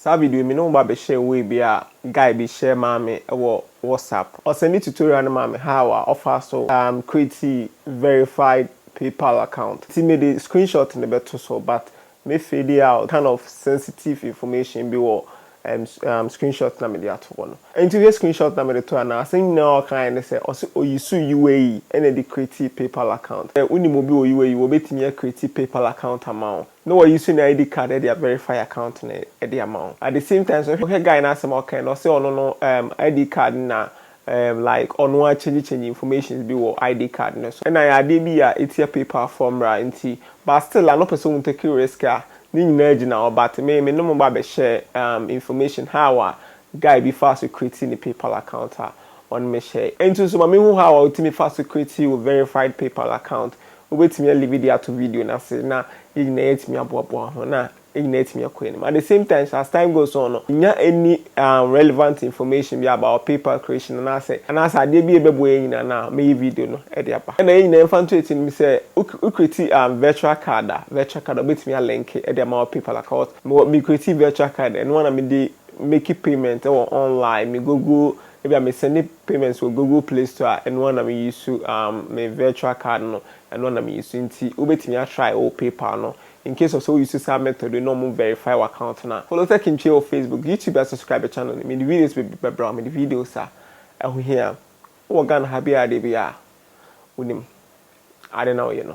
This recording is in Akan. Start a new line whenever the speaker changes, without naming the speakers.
Saa video yi me ne wo ba bɛhyɛɛ way bi a guy bi share maa me wɔ WhatsApp. Ɔsɛnde tutorial no maa me how a ɔfaa so um create verified PayPal account. Nti me de screenshot no bɛto so but me fade out kind of sensitive information bi wɔ um um screenshot no a me de ato hɔ no. Nti wohwɛ screenshot no a me de to anaa? Asɛm nyinaa a ɔkaeɛ ne sɛ ɔse ɔuse UAE na ɛde create PayPal account. Sɛ wonim obi wɔ UAE wɔbɛtumi a create PayPal account ama wo. na wayi so ne ID card de a verify account no de ama wo at the same time nso wohwɛ guy no asɛm a ɔkae no ɔse ɔno no um ID card no na um like ɔno ara change change informations bi wɔ ID card no so ɛna ayɛ adeɛ bi a ɛtia PayPal foɔ mmara nti but still ano pɛ sɛ ɔmu take risk a ne nyinaa gyina hɔ but me me ne mo ba bɛ share um information how a guy bi faa so create ne PayPal account a ɔne me share ɛnti nso ma me hu how a wotumi fa so create wo verified PayPal account Wobɛtumi a live de ato video no ase na yɛn nyinaa yɛatumi aboaboa ho na yɛn nyinaa yɛatumi akɔ anim. At the same time nso, as time goes on no, nya any um, relevant information bi about PayPal creation anaasɛ anaasɛ adeɛ bi a ɛbɛboa yɛn nyinaa no a, mɛyɛ video no de aba. Ɛna yɛn nyinaa yɛmfa nto akyi no, sɛ wo create um, virtual card a, virtual card a wobɛtumi a link de ama wɔ PayPal account. Mewɔ, me create virtual card, ɛno ara na mede make payment wɔ online, me Google Ebia me sɛnde payments wɔ Google play store a ɛno ara na me use um me virtual card no ɛno ara na me use nti wobɛtumi a try wɔ paypal no incase of sɛ wo use saa method yi na ɔmo verify wo account no a. Follow Tech Ntua wɔ Facebook, YouTube a subscribe channel no mede videos bebree bɛbrɛ wo mede videos a ɛho hia wowɔ Ghana ha biara deɛ biara a wonim ade na woyɛ no.